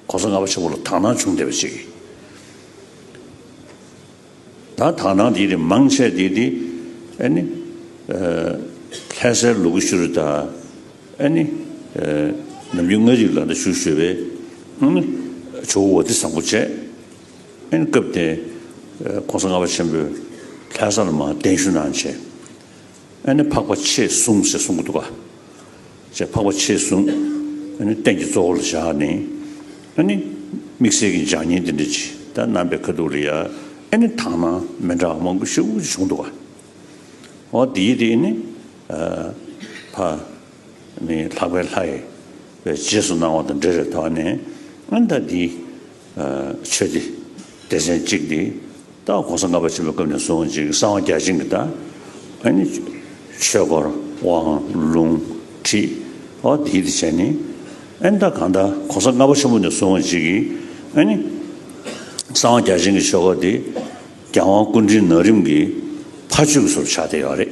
གོང་ས་ལྔ་པ་ཆེན་པོ་ལ་དག་སྣང་བྱུང་བསྡད་པ་ཞིག་ཡིན། ད་དག་སྣང་དེ་རིགས་མང་ཆེ་དེ་དེ་ཨེ་ནི། ལྷན་སའི་ལུ་གུ་ཤུ་རུ་དང་ཨེ་ནི། ནམ་རྒྱུན་ལྔ་རིག་ལ་འདྲ་བཞུགས་ཞུས་པའི་ཨེ་ནི། ཇོ་བོ་བ་དི་བཟང་པོ་བཅས་ཨེ་ནི་སྐབས་དེ་གོང་ས་ལྔ་པ་ཆེན་པོས་ལྷན་ས་ལ་མ་གདན་ཞུ་གནང་བྱས། ཨེ་ནི་འཕགས་པ་ཆེས་གསུམ་ཞེས་གསུངས་ཀྱི་འདུག་ཅེས་འཕགས་པ་ཆེས་གསུམ་ཨེ་ནི་རྟེན་གྱི་གཙོ་བོ་ལ་བཞག་ནས་ཨེ་ནི་དམིགས་བསལ་གྱི་འཇག་ཉེན་དེ་འདྲའི་ཇི་ལྟར་རྣམ་པའི་ཁ་དོག་ལ་ཡང་ཨེ་ནི་དག་སྣང་མི་འདྲ་བ་མང་པོ་ཞིག་བྱུང་འདུག་ཨོ་དེ་ཡི་དེ་ཨེ་ནི་ཕ་ནི་ལྷག་པའི་ལྷའི་བའི་རྗེས་སུ་གནང་བ་དང་འབྲེལ་རེ་དོགས་ནས་ཨེ་ནི་ད་དེ་ཆོས་འདི་སྡེ་ཚན་གཅིག་འདི་ད་གོང་ས་ལྔ་པ་བྱོན་པའི་སྐབས་ནས་བཟུང་ཅིག་གསང་བ་བརྒྱ་བྱིན་གྱི་བརྡའ། ཆོས་འཁོར་དབང་ལུང་ཁྲིད་འོ་དེའི་དེ་བྱས་ནས་ད་གང་ལྟར་གོང་ས་ལྔ་པ་ཆེན་པོ་ནས་བཟུང་ཅིག་གསང་བ་བརྒྱ་བྱིན་གྱི་ཆོས་འཁོར་འདི་རྒྱལ་དབང་ཀུན་འདྲིལ་ནག་རིམ་གྱི་ཕ་ཆོས་ཀྱི་སོར་ཆགས་ཏེ་ཡོད་རེད།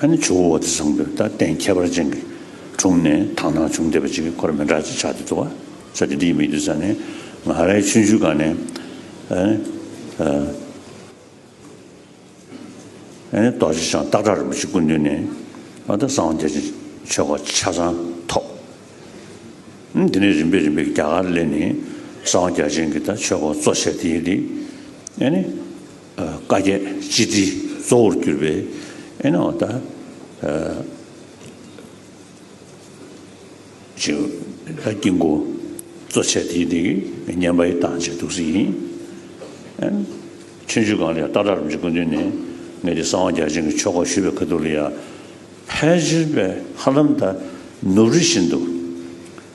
ཨ་ནི་ཇོ་བོ་བོ་དེ་བཟང་པོའི་རྟགས་བརྟེན་ཁྱད་པར་ཅན་གྱི་དྲུང་ནས་དག་སྣང་བྱུང་བདེ་བ་ཅིག་གི་འཁོར་མི་འདྲ་ཅི་ཆགས་དེ་འདུ་བ་ས་དེ་འདི་མི་འདུ་ས་ནས་ང་རའི་ཆུ་འཇུ་ག་ནས་ཨ་ནི་རྡོ་རྗེ་འཆང་སྟག་བྲག་རིན་པོ་ཆེ་སྐུ་མདུན་ནས་ཨ་ད་གསང་བ་རྒྱ་ཆེན་ཆོས་སྒོ་ཆ་ཚང་ཐོབ། དེ་ནས་རིམ་པས་རིམ་པས་རྒྱ་གར་ལས་ནི་གསང་བ་རྒྱ་ཆེན་གྱི་ད་ཆོས་སྒོ་གཙོ་བྱས་དེ་ཡི་དེ་ཨ་ནི། བཀའ་བརྒྱད་སྤྱི་དྲིལ་གཙོ་བོར་གྱུར་པའི་ཨེ་ནའོ་ད་ཅིའོ་ལ་དཀྱིལ་འཁོར་གཙོ་བྱས་ཏེ་འདི་བསྙེན་པ་ཡི་དྭངས་བྱེད་ཐུགས་གསུང་ཡིན། ཆོས་འབྱུང་གང་ལ་ཡང་ཏག་ཏག་རིམ་གྱིས་ཀུན་འདུས་ནས་ངེད་ཀྱི་གསང་བ་རྒྱ་ཆེན་གྱི་ཆོ་ག་ཞུས་པའི་ཁ་ཐུག་ལ་ཡང་ཕལ་ཆེར་པའི་ཧ་ལམ་ད་ནུབ་རི་བཞིན་དུ།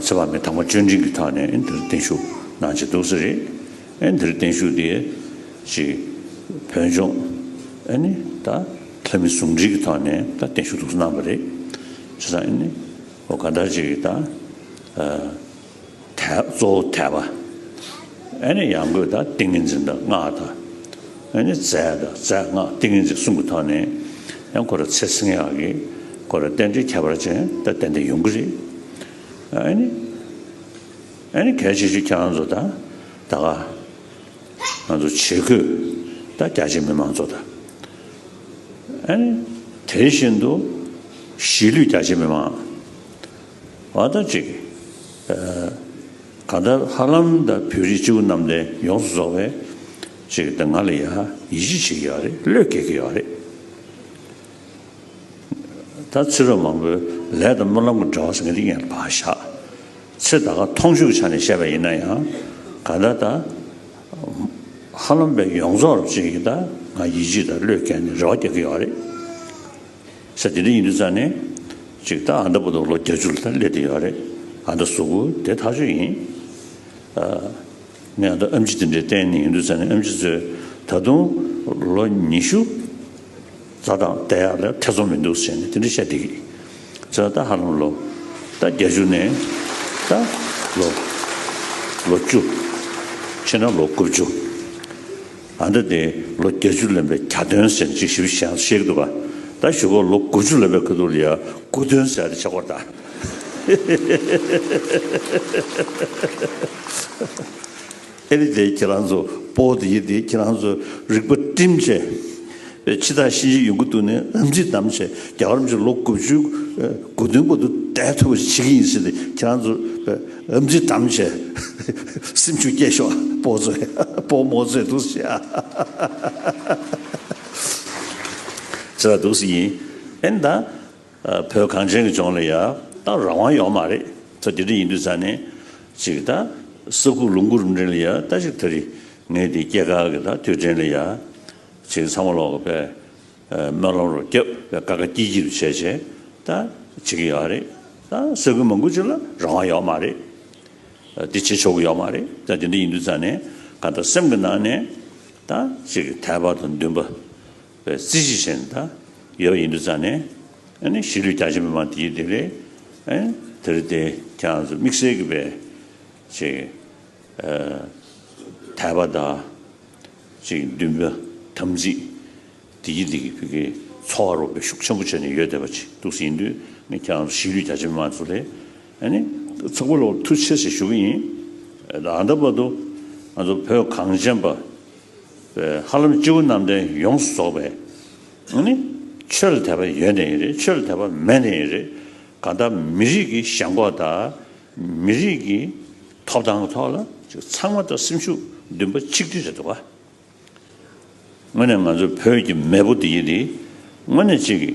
ཚེ་དཔག་མེད་དང་པོ་གཅོད་འབྲིང་གི་ཐག་ནས་འདིར་བརྟན་བཞུགས་གནང་བྱེད་འདུག་ས་རེད། འདིར་བརྟན་བཞུགས་དེ་ཅིག་བོད་ལྗོངས་ནི་ད་ལྷ་མི་ཟུང་འབྲེལ་གྱི་ཐོག་ནས་ད་བརྟན་བཞུགས་འདུག་གནང་བ་རེད། ཅེས་དང་ནི་གང་ལྟར་ཅིག་ད་གཙོ་བོ་དད་པ། ནི་ཡང་སྒོས་དང་ཏིང་ངེ་འཛིན་དང་སྔགས་དང། ནི་རྫས་དང་རྫས་སྔགས་ཏིང་ངེ་འཛིན་གསུམ་གྱི་ཐོག་ནས། ཡང་འཁོར་ཚེ་བསྲིང་ཡག་གི། འཁོར་རྟེན་འབྲེལ་ཁྱད་པར་ཅན་དང་རྟེན་འབྲེལ་ཡོང་གི་རེད། ནི། ནི་གལ་ཆེ་ཆུ་འཁྱག་ང་ཚོ་དང་ད་ག། ང་ཚོ་ཆེ་ཁུལ་དང་རྒྱ་ཆེ་མི་མང་ཚོ་དང། ནི། དེ་བཞིན་དུ་གཞིས་ལུས་རྒྱ་ཆེ་མི་མང། བ་དང་གཅིག། གང་ལྟར་ཧ་ལམ་ད་བོད་རིགས་སྤྱི་བོ་གནམ་བསྟན་ཡོངས་སུ་རྫོགས་པས་ཅིག་ད་ང་ལ་ཡང་ཡིད་ཆེས་བྱེད་ཀྱི་ཡོད་རེད་བློས་འགེལ་གྱི་ཡོད་རེད། ད་ཚེ་རབས་མང་པོའི་ལས་དང་སྨོན་ལམ་གྱི་འབྲེལ་བ་ཟེར་མཁན་འདི་ངས་བག་ཞག་ཚེ་ད་ག་མཐོང་ཤུགས་ཆ་ནས་བཤད་པ་ཡིན་ན་ཡང་གང་ལྟར་ད་ཧ་ལམ་བོད་ཡོངས་རྫོགས་རབ་བྱེད་ཀྱི་ད་ང་ཡིད་ཆེས་དང་བློས་འགེལ་ནས་རེ་བ་རྒྱག་གི་ཡོད་རེད། ས་དེ་འདྲ་ཡིན་དུས་ཙང་ནས་ཅིག་ད་ཨ་མདའ་བུ་དང་ལོ་བརྒྱ་ཅུ་ལ་སླེབས་ཏེ་ཡོད་རེད་ཨ་མདའ་གཟུགས་པོ་དེ་ཐག་ཆོད་ཡིན། ངས་ཨ་མདའ་ཨམ་ཆི་དེ་འདྲའི་བསྟན་ནས་ཡོད་དུས་ཙང་ནས་ཨམ་ཆི་ཚོས་ད་དུང་ལོ་ཉི་ཤུ་རྩ་དང་བསྡད་ཡག་ལ་ཐེ་ཚོམ་མི་འདུག་ཟེར་ནས་དེ་འདྲ་བཤད་འདུག་ཚེ་ཨ་མདའ་ཧ་ལམ་ལོ་ད་བརྒྱ་ཅུ་ནས་ད་ལོ་ལོ་བཅུ་ཕྱི་ན་ལོ་དགུ་བཅུ། ཨ་མདོ་དེ་ལོ་བརྒྱད་ཅུ་ལོན་པའི་གྱ་སྟོན་ཟེར་ཅིག་ཞིབ་ཞིབ་བཤད་ཤེས་གི་འདུག་ད་བཞུགས་སྒར་ལོ་དགུ་བཅུ་ལོན་པའི་ཁུ་ཐུར་ཡ་དགུ་སྟོན་ཟེར་ཡ་དེ་ཆགས་སྒོར་གདའ། ཨེ་རེད་དེ་ཁྱེད་རང་ཚོ་པོ་དེ་ཡི་དེ་ཁྱེད་རང་ཚོ་རིག་པ་བཀྲིན་ཆེ། པའི་ཕྱི་དང་གཤིན་རྗེའི་ཡོན་ཀུན་ཏུ་ནི་རམ་འཛིན་དམ་བཅས་རྒྱ་གར་མཆོད་ལོ་དགུ་བཅུའི་དགུ་བདུན་གོ་དུ་བསྟན་ཐུབ་པ་ཞིག་བྱེད་ཀྱི་ཡིན་ཟེར་ཏེ་ཁྱེད་རང་ཚོ་རམ་འཛིན་དམ་བཅས་སེམས་ཤུགས་སྐྱེད་ཤོག་སྤོ་བཟོས་སྤོ་མོ་བཟོས་འདུག་ཟེར་ཟེར་བ་འདུག་ཡིན་ཨེ་ད་བོད་གངས་ཅན་གྱི་ལྗོངས་ལ་ཡག་ཏག་རང་དབང་ཡོག་མ་རེད་ད་དེ་འདྲ་ཡིན་དུས་ད་ནས་ཅིག་ད་ས་ཁུག་ལུང་ཁུག་རུ་འདྲེན་ལ་ཡག་ད་ཅིག་ད་རེ་ངས་དེ་སྐྱེ་ག་གི་ད་དུས་དྲན་ལ་ཡག། བྱེད་ཚང་མ་ལོག་གི་པའི་སྨོན་ལམ་རུ་སྐྱབས་པའི་བཀའ་ཁ་སྐྱིད་སྐྱིད་དུ་བྱས་བྱས་ད་བྱེད་ཀྱི་ཡོད་རེད་ད་ཟེར་གི་མང་པོ་ཅིག་ལ་རང་དབང་ཡོད་མ་རེད་དེ་བྱེད་ཆོག་གི་ཡོད་མ་རེད་ད་དེ་འདྲ་ཡིན་དུས་ཙང་ནས་ག་ད་སེམས་ཀྱི་ནང་ནས་ད་བྱེད་ཀྱི་ཐལ་བ་དང་འདུན་པ་བའི་རྩིས་གཞི་བཞིན་ད་ཡོད་ཡིན་དུས་ཙང་ནས་ཨ་ནི་གཞིས་ལུས་རྒྱ་ཆེ་མི་མང་དེ་རེད་དེ་རེད་དེ་རེད་དེ་ཁྱེད་རང་ཚོ་དམིགས་བསལ་གི་པའི་བྱེད་ཀྱི་ཐལ་བ་ད། ཅིག་འདུན་པ་དམ་ཚིག་བདེ་སྐྱིད་བདེ་སྐྱིད་བོད་ཀྱི་འཚོ་བ་རོལ་བའི་ཤུགས་ཆེན་པོ་བྱས་ནས་ཡོད་བསྡད་པ་ཅིག་འདུག་ཟིན་དུས་ངས་ཁྱེད་རང་ཚོ་གཞིས་ལུས་རྒྱ་ཆེ་མི་མང་ཚོ་ལས་ནི་ཚོགས་པ་ལོག་ཐུགས་ཆེ་ཞེས་ཞུ་གི་ཡིན། ད་ལྟ་བར་དུ་ང་ཚོ་བོད་གངས་ཅན་པ་བའི་ཧ་ལམ་སྤྱི་བོ་གནམ་བསྟན་ཡོངས་སུ་རྫོགས་པའི་ནི་ཆོས་ལ་དད་པ་ཡོད་བསྡད་ཡིན་རེད་ཆོས་ལ་དད་པ་མེད་བསྡད་ཡིན་རེད་གང་ལྟར་མི་རིགས་ཀྱི་ཞེན་ཁོག་དང་མི་རིགས་ཀྱི་ཐོབ་ཐང་ཐོག་ལ་ཚང་མ་དང་སེམས་ཤུགས་འདུན་པ་ཆིག་སྒྲིལ་རེད་འདུག་བ། དངོས་ནས་ང་ཚོ་བོད་ཀྱི་མེས་པོ་འདི་ཡིན་དེ་དངོས་ནས་ཅིག་གི་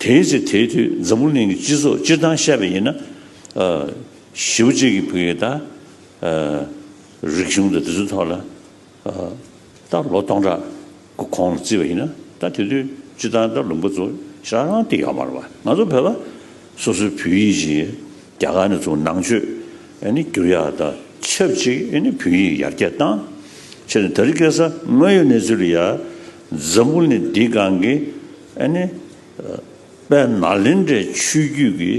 དེའི་ཚེ་དེའི་དུས་འཛམ་བུ་གླིང་གི་སྤྱི་ཚོགས་སྤྱིར་བཏང་བཤད་པ་ཡིན་ན། བཞི་བོ་གཅིག་གི་བུ་ཡིན་ད། རིག་གཞུང་དང་དེ་ཚོའི་ཐོག་ལ། ད་ལོ་སྟོང་ཕྲག་གི་གོང་ལ་བརྩིས་པ་ཡིན་ན་ད་དེ་དུས་སྤྱི་བཏང་ད་ལུང་པ་ཚོ་རང་རང་སྟེ་ཡོད་མ་རེད་པ་ང་ཚོ་བོད་པ་སོ་སོའི་བོད་ཡིག་ཅིག་རྒྱ་གར་ནས་བཙུགས་ནང་ཆོས་བསྒྱུར་ཡག་ད་ཆབས་ཅིག་བོད་ཡིག་ཡར་རྒྱས་བཏང་ཕྱིར་ནས་ད་རི་སྐལ་ས་དངོས་ཡོད་གནས་ཚུལ་ཡར་འཛམ་བུ་ནས་འདི་གང་གི་དཔལ་ནཱ་ལེནྡྲའི་ཆོས་བརྒྱུད་ཀྱི་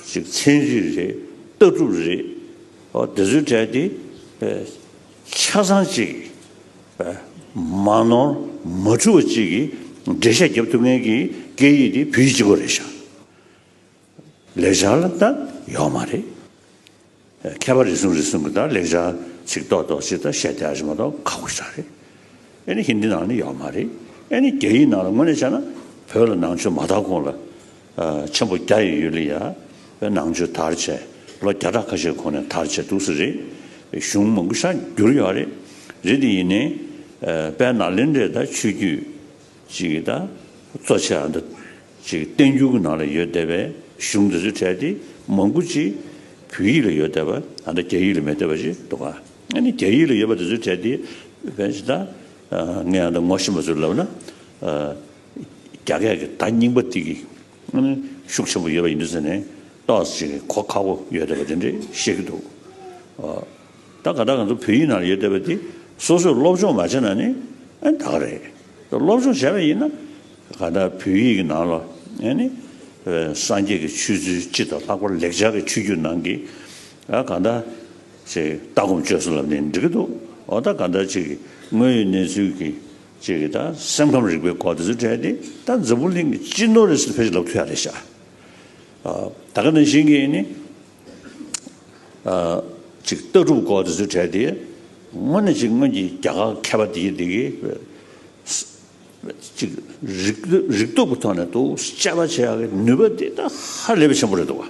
ཅིག་མཚན་རིགས་རེད་ལྟ་གྲུབ་རེད། འོ་དེ་ཚོའི་གྲས་དེ་ཆ་ཚང་གཅིག་མ་ནོར་མ་འཁྲུལ་བ་གཅིག་གིས་འགྲེལ་བཤད་བརྒྱབ་ཐུབ་མཁན་གྱི་སྐད་ཡིག་དེ་བོད་ཡིག་གཅིག་པོ་རེད་བཞག་ལེགས་ཆ་ལ་ད་ཡོག་མ་རེད། མཁས་པ་རེ་ཟུང་རེ་ཟུང་གིས་ད་ལེགས་ཆ་ཚིག་ཏོག་ཏོག་ཅིག་ད་བཤད་བསྡད་ཨ་ཞེ་མ་ཏོག་ཁག་པོ་ཞིག་རེད། ཨེ་ནི་ཧིན་དི་ནང་ནས་ཡོག་མ་རེད། ཨེ་ནི་རྒྱ་ཡིག་ནང་ལ་དངོས་གནས་བྱས་ན་བོད་ལ་ནང་ཆོས་མ་དར་གོང་ལ། ཆེན་པོ་རྒྱ་ཡི་ཡུལ་ལི་ཡ་བའི་ནང་ཆོས་དར་ཆེ་ལོ་བརྒྱ་ཕྲག་ཁ་ཤས་གོང་ནས་དར་ཆེ་འདུག་ས་རེད། གཞུང་མང་པོ་ཤར་འགྱུར་ཡོད་རེད། རེད་དེ་ཡིན་ནའི། དཔལ་ནཱ་ལེནྡྲའི་ད་ཆོས་རྒྱུད་ཅིག་ད་གཙོ་ཆེ་ད་ཅིག་བསྟན་འགྱུར་གྱི་ནང་ལ་ཡོད་བསྡད་པའི་གཞུང་དེ་ཚོའི་གྲས་དེ་མང་པོ་ཅིག་བོད་ཡིག་ལ་ཡོད་བསྡད་པ་ད་ལྟ་རྒྱ་ཡིག་ལ་མེད་བསྡད་པ་ཅིག་འདུག་ག་ཨ་ནི་རྒྱ་ཡིག་ལ་ཡོད་པ་དེ་ཚོའི་གྲས་དེ་བས་ད་ངས་ད་ངོ་ཤེས་པ་ཚོས་ལབ་ན། རྒྱ་སྐད་ཀྱི་བརྡ་རྙིང་པ་ཏིག་གི་ཤུགས་ཆེན་པོ་ཡོད་པ་ཡིན་དུས་ཟེར་ནས་ཏོག་ཅིག་གི་གོ་ཁ་བོ་ཡོད་བསྡད་པ་དེ་འདྲས་བཤད་ཀྱི་འདུག་ད་ག་ད་ག་ཚོ་བོད་ཡིག་ནང་ལ་ཡོད་བསྡད་པ་དེ་སོ་སོས་སློབ་སྦྱོང་མ་བྱས་ན་ནི་ད་ག་རེད། སློབ་སྦྱོང་བྱས་པ་ཡིན་ན་ག་ད་བོད་ཡིག་གི་ནང་ལ་སངས་རྒྱས་ཀྱི་ཆོས་ཚུལ་སྤྱི་དང་ལྷག་པར་ལེགས་སྦྱར་གྱི་ཆོས་བརྒྱུད་ནང་གི་ག་ད་ཅིག་ལྟ་སྒོམ་སྤྱོད་བཟོ་ལབ་ནས་འབྲི་གི་འདུག་འོ་ད་ག་ད་ཅིག་དངོས་ཡོད་གནས་ཚུལ་གྱི་ཅེས་ཀྱི་དང་སེམས་ཁམས་རིག་པའི་སྐོར་དེ་ཚོ་བྲལ་ཏེ་ད་འཛམ་བུ་གླིང་གི་སྤྱི་ནོར་རེད་ཟེར་ཕལ་ཆེར་ལབ་ཐུ་ཡག་རེད་ཤག་ད་ག་ནང་བཞིན་གྱི་ནི་ཅིག་ལྟ་གྲུབ་སྐོར་དེ་ཚོ་བྲལ་ཏེ་དངོས་ནས་ཅིག་སྔོན་གྱི་རྒྱ་གར་མཁས་པ་དེ་དེ་གི་ཅིག་རིག་རིག་སྟོབས་ཀྱི་ཐོག་ནས་དུ་དཔྱད་པ་བྱེད་ཡག་གི་ནུས་པ་དེ་ད་ཧ་ལས་པའི་ཆེན་པོ་རེད་འདུག་བ།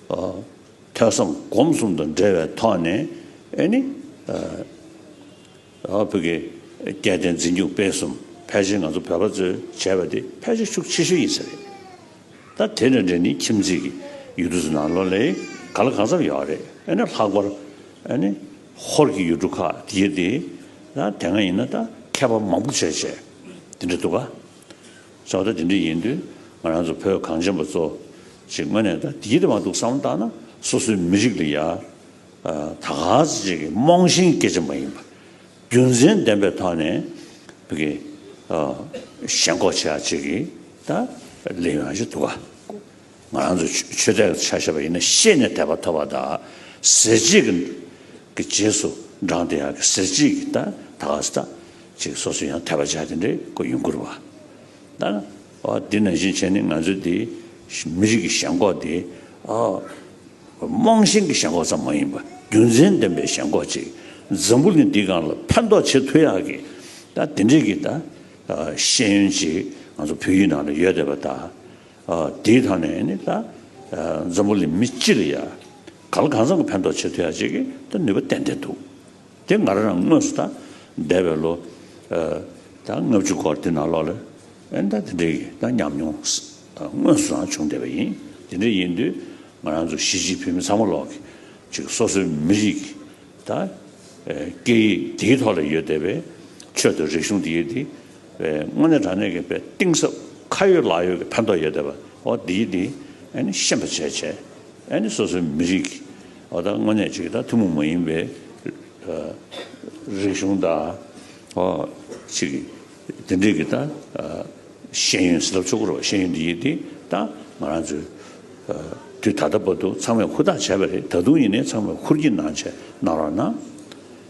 ཐོས་བསམ་སྒོམ་གསུམ་དང་འབྲེལ་བའི་ཐོག་ནས་ནི། བོད་ཀྱི་སྐད་བསྟན་འཛིན་སྒྱུ་སྤེལ་གསུམ་ཕལ་ཆེར་ང་ཚོ་བོད་པ་ཚོས་བྱས་པ་དེ་ཕལ་ཆེར་ཤུགས་ཆེ་ཤོས་ཡིན་ས་རེད། ད་དེ་འདྲ་འདྲ་ནི་ཁྱིམ་མཚེས་ཀྱི་ཡུལ་གྲུ་ཚོ་ནང་ལོ་ལེགས་ག་ལ་གང་འཚམས་ཡོད་རེད་ཨེ་ན་ལྷག་པར་ནི་ཧོར་གྱི་ཡུལ་གྲུ་ཁག་དེ་དེ་ན་དེ་སྔ་ཡིན་ན་ད་མཁས་པ་མང་པོ་བྱས་བྱས་དེ་འདྲ་འདུག་ག། ཚོགས་གཙོ་དེ་འདྲ་ཡིན་དུས་ང་རང་ཚོ་བོད་གངས་ཅན་པ་ཚོ་ཞིག་དངོས་གནས་ད་དེའི་དབང་དུ་བསམ་བློ་བཏང་ན་སོ་སོའི་མི་རིགས་ལ་ཡ་ད་ག་ཚོད་ཅིག་གིས་རྨོངས་ཤིང་སྐད་ཆ་མ་ཡིན་པ་རྒྱུ་མཚན་ལྡན་པའི་ཐོག་ནས་བོད་ཀྱི་ཞེན་ཁོག་ཆེ་བ་ཅིག་གིས་ད་ལས་ཡོང་གཞི་འདུག་ག། ང་རང་ཚོས་ཆོས་དད་ཀྱི་ཆ་ཤས་པ་ཡིན་ན་ཤེས་ནས་དད་པ་ཐོབ་པ་དང། ཟེར་གཅིག་གི་རྗེས་སུ་འབྲངས་ཏེ་ཡང་ཟེར་གཅིག་གི་ད་ག་ཟེ་ད་ཅིག་སོ་སོས་ཡང་དད་པ་བྱ་དེ་འདྲའི་སྐུ་ཡོན་བཀུར་བ་དང། འོ་འདི་ནང་བཞིན་བྱས་ནས་ང་ཚོའི་འདི་མི་རིགས་ཀྱི་ཞེན་ཁོག་འདི་རྨོངས་ཞེན་གྱི་ཞེན་ཁོག་ཙམ་མ་ཡིན་པར་རྒྱུ་མཚན་ལྡན་པའི་ཞེན་ཁོག་ཅིག་འཛམ་བུ་གླིང་འདིའི་སྒང་ལ་ཕན་ཐོགས་བྱེད་ཐུབ་ཡག་གི་ད་དེ་འདྲའི་གི་ད་ཤེས་ཡོན་ཅིག་ང་ཚོ་བོད་ཡིག་ནང་ལ་ཡོད་དད་པ་ད། དེའི་ཐང་ནས་ནི་ད་འཛམ་བུ་ལི་མི་སྤྱི་ལ་ཡ་ག་ལ་གང་ཙམ་གྱི་ཕན་ཐོག་བྱེད་ཐུ་ཡ་བྱེད་ཀྱི་ནུས་པ་ཏན་ཏན་འདུག་དེ་ང་རང་དངོས་སུ་ད་འདས་པའི་ལོ་ད་ལྔ་བཅུ་སྐོར་དེ་ནང་ལོགས་ལ་ཨེ་ད་དེ་འདྲའི་ཡི་ད་ཉམས་མྱོང་དངོས་སུ་རང་བྱུང་བསྡད་པ་ཡིན་དེ་འདྲའི་ཡིན་དུས་ང་རང་ཚོ་གཞིས་བྱེས་བོད་མི་ཚང་མ་ལོགས་ཀྱི་ཅིག་སོ་སོའི་མི་རིགས་ཀྱི་ད་སྐད་ཡིག་དེའི་ཐོག་ལ་ཡོད་བསྡད་པའི་ཆོད་དུ་རིག་གཞུང་དེ་ཡོད་དེ། དངོས་གནས་དྲང་གནས་ཀྱི་དཔེ་གཏིང་ཟབ་ཁ་ཡོད་ལག་ཡོད་ཀྱི་ཕན་ཐོགས་ཡོད་བསྡད་པ་འོ་འདིའི་འདི་ཤེས་པ་བྱས་བྱས་ཨ་ནི་སོ་སོའི་མི་རིགས་ཀྱི་ད་དངོས་གནས་ཅིག་ད་ཐུན་མོང་མ་ཡིན་པའི་རིག་གཞུང་ད་ཨོ་ཅིག་གི་འདི་འདྲིག་གི་ད་ཤེས་ཡོན་ཟེར་ལབ་ཆོག་གི་རོགས་ཤེས་ཡོན་འདིའི་འདི་ད་ང་རང་ཚོའི་དུས་ད་ལྟ་བར་དུ་ཚང་མས་ཧུར་ཐག་བྱས་པ་རེད་ད་དུང་ཡིན་ནའི་ཚང་མས་ཧུར་གྱིས་གནང་བྱས་གནང་རོགས་གནང།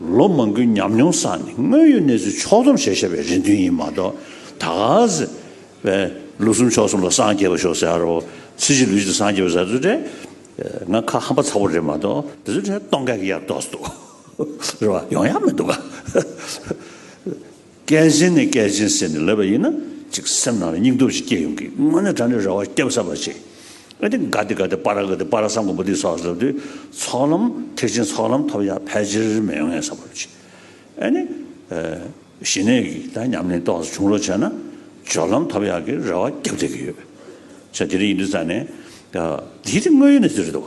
ལོ་མང་གི་ཉམས་མྱོང་བསགས་ནས་དངོས་ཡོད་གནས་ཚུལ་ཕྱོགས་སྡོམ་བྱེད་ཤེས་པའི་རེ་འདུན་ཡིན་མ་གཏོགས་ད་གཟི་བས་ལོ་གསུམ་ཕྱོགས་གསུམ་ལ་སངས་རྒྱས་པ་ཤོག་ཟེར་རོ་ཚེ་བཞི་ལུས་བཞི་སངས་རྒྱས་པ་ཟེར་ཚུལ་དེ་ང་ཁ་ཧམ་པ་ཚ་བོ་རེད་མ་གཏོགས་དེ་ཚོའི་གྲས་སྟོང་སྐད་ཀྱི་ཡར་ལྡོག་སྡོག་རེད་བ་ཡོང་ཡག་མི་འདུག་ག། སྐད་གཞན་ནས་སྐད་གཞན་བསྲེས་ནས་ལབ་པ་ཡིན་ན་ཅིག་སེམས་ནང་ལ་སྙིང་སྟོབས་ཤིག་སྐྱེ་ཡོང་གི་དངོས་གནས་དྲ་འདྲེ་ར་བ་སྐྱབས་བསབ་པར་བྱེད། ཨ་ཏི་དགའ་ཏི་དགའ་ཏི་པ་ར་དགའ་ཏི་པ་ར་བསམ་མགོན་པོ་ཏི་སོགས་ལབ་དུས་ཚོགས་ལམ་ཐེག་ཆེན་ཚོགས་ལམ་ཐོབ་ཡག་ཕལ་ཆེར་མེད་ངེས་བསམ་པར་བྱེད། ཨ་ནི། ཞི་གནས་ཀྱི་དག་ཉམས་ལེན་རྟོགས་སུ་བྱུང་རོགས་བྱས་ན་སྦྱོར་ལམ་ཐོབ་ཡག་གི་ར་བ་སྐྱབས་བསྡད་ཀྱི་ཡོད། ཆ་དེ་རིང་ཡིན་དུས་རྩ་ནས། དེའི་དེ་དངོས་ཡོད་ནས་དེ་རེད་དོ།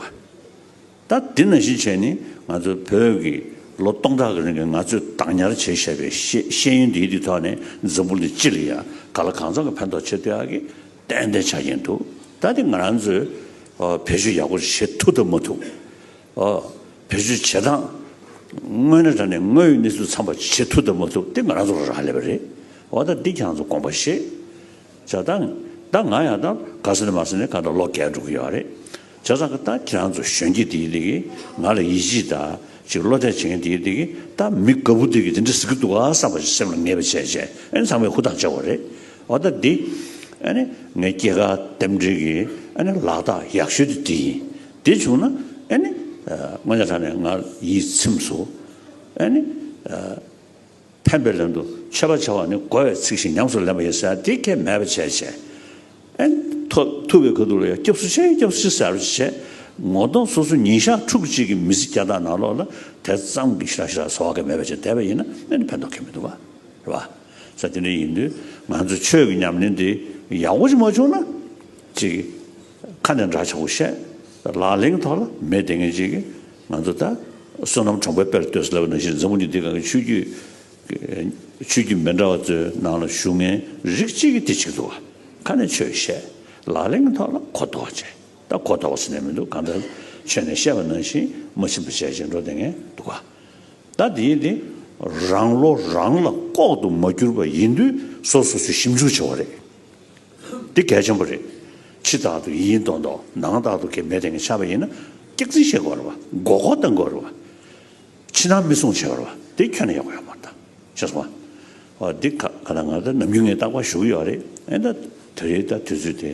ད་འདི་ན་གཞི་བྱས་ནི་ང་ཚོ་བོད་ཀྱི་ལོ་སྟོང་ཕྲག་གི་རིང་གི་ང་ཚོས་བདག་ཉར་བྱས་བཞག་པའི་ཤེས་ཡོན་འདིའི་ཐོག་ནས་འཛམ་བུ་འདི་སྤྱི་ལ་ཡང་ག་ལ་གང་ཙམ་གྱི་ཕན་ཐོག་ཆེ་བསྟོད་ཨ་གི་ཏན་ཏན་ཆགས་ཀྱིན་འདུག་ད་འདི་ང་རང་ཚོས་བེད་སྤྱོད་ཡག་པོ་བྱེད་ཐུབ་ཐུབ་མ་ཐུབ། བེད་སྤྱོད་བྱེད་སྟངས་དངོས་ནས་དྲ་ནས་དངོས་ཡོད་གནས་ཚུལ་ཚང་པ་བྱེད་ཐུབ་ཐུབ་མ་ཐུབ་འདི་ང་རང་ཚོར་རག་ལས་པ་རེད། འོ་ད་འདི་ཁྱང་ཚོ་དགོངས་པ་བཞེས། བྱ་དང། ད་ང་ཡང་ད་ག་སེ་ནས་མ་སེ་ནས་ག་ད་ལོག་གད་འགྲོ་གི་ཡོད་ར་རེད། བྱ་ཙང་གི་ད་ཁྱེད་རང་ཚོ་གཞོན་སྐྱེས་དེའི་དེ་གི་ང་ལ་ཡིད་ཆེས་ད་ཅིག་བློ་གཏད་བྱེད་མཁན་དེའི་དེ་གི་ད་མི་དགའ་བོ་དེ་གི་དེ་འདྲ་ཟེར་གི་འདུག་ག་བསམ་པ་ཞིག་སེམས་ལ་ངེས་པ་བྱས་བྱས་ཨ་ནི་ཚང་མས་ཧུར་ཐག་བྱས་བ་རེད། འོ་ད་འདི་ཨ་ནི་ངའི་སྐྱེས་སྐར་འདེམས་སྒྲིག་གི་ཨ་ནི་ལག་རྟགས་ཡག་ཤོས་དེ་འདི་ཡིན། འདི་བྱུང་ན་ཨ་ནི་སྔོན་ཆད་ད་ནས་ང་ཡིད་ཚིམས་སོ། ཨ་ནི། ཕན་པའི་ལན་དུ་མཆོད་པ་བྱ་བ་ནི་བསྒོ་བའི་ཚིག་བཞིན་ཉམས་སུ་ལེན་པ་ཡིན་ཟེར་དེ་ཁས་མེད་པར་བྱས་བྱས། ཨན། ཐུབ་པའི་ག་དུག་ལ་ཡང་སྐྱབས་སུ་ཆེན་སྐྱབས་སུ་ཆེན་ཟེར་བར་བྱས། ངོ་གདོང་སོ་སོ་ཉིན་ཞག་ཕྲུག་གཅིག་གི་མི་ཚེ་བརྒྱ་ཐག་ནང་ལོགས་ལ་དེ་ཙམ་གྱི་ཞིར་ཞིར་བཟོ་བ་ཁས་མེད་པར་བྱས་དད་པ་ཡིན་ན་ཨན་ཕན་ཐོགས་ཁས་མི་འདུག་བ། རེད་བ། ས་དེ་འདྲ་ཡིན་དུས་ང་ཚོས་ཆོས་ཀྱི་ཉམས་ལེན་དེ་ཡག་པོ་ཞིག་མ་བྱུང་ན། གཅིག། ཁ་ནས་འདྲ་ཆགས་པོ་བཤད། ལག་ལེན་གྱི་ཐོག་ལ་མེད་བདེན་ངེས་ཅན་གྱི་ང་ཚོ་ལྟར་བསོད་ནམས་གྲོང་པའི་དཔེར་ལྟོས་སུ་ལབ་པ་ནང་བཞིན་འཛམ་བུ་གཉིས་འདི་གང་གི་ཆོས་བརྒྱུད་ཆོས་བརྒྱུད་མི་འདྲ་བ་ཚོའི་ནང་ལ་ཞུགས་ངན་རིགས་གཅིག་གིས་དེ་གཅིག་འདུག་ཁ་ནས་ཆོས་བཤད། ལག་ལེན་གྱི་ཐོག་ལ་གོ་ལྡོག་བྱས། ད་གོ་ལྡོག་ཟེར་ནས་མི་འདུག་གང་ལྟར་ཆོས་ནས་བཤད་པ་ནང་བཞིན་མ་ཕྱིན་པ་བྱས་བྱས་འགྲོ་བདེན་ངེས་འདུག་ག་ད་དེ་ཡིན་དེ་རང་བློ་རང་ལ་ལྐོག་ཏུ་མ་གྱུར་པ་ཡིན་དུས་སོ་སོ་ཚོས་ཞིབ་འཇུག་བྱེད་བ་རེད། འདི་གལ་ཆེན་པོ་རེད། ཕྱི་རྟགས་དུ་ཡིན་མདོག་མདོག་ནང་རྟགས་དུ་གལ་མེད་དེ་འགའ་ཆགས་པ་ཡིན་ན། སྐྱག་རྫིན་བཤད་དགོས་ར་བ། མགོ་སྐོར་བཏང་དགོས་ར་བ། ཕྱི་ནང་མི་སྲུང་བྱེད་པ་ར་བ། དེ་ཁྱོད་ནས་ཡག་པོ་ཡོད་མ་ད། ཤེས་སོང་ང། ཨོ་འདི་ག་ད་ང་ད་ནམ་རྒྱུན་ངའི་རྟགས་པ་བཞུགས་ཡོད་རེད། ཨེ་ད་དེ་རེད་ད་དུས་ཚོད་དེ།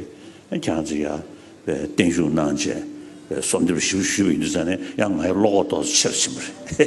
ཁྱེད་རང་ཚོས་ཡ། བརྟན་བཞུགས་གནང་རྗེས། སོབ་འདེབས་ཞིབ་ཞུས་པ་ཡིན་དུས་ཚོད་ནས་ཡང་ང་ཡི་བློ་ཁོག་ཏོག་ཚོ་ཆེ་རུ་ཕྱིན་པ་རེད།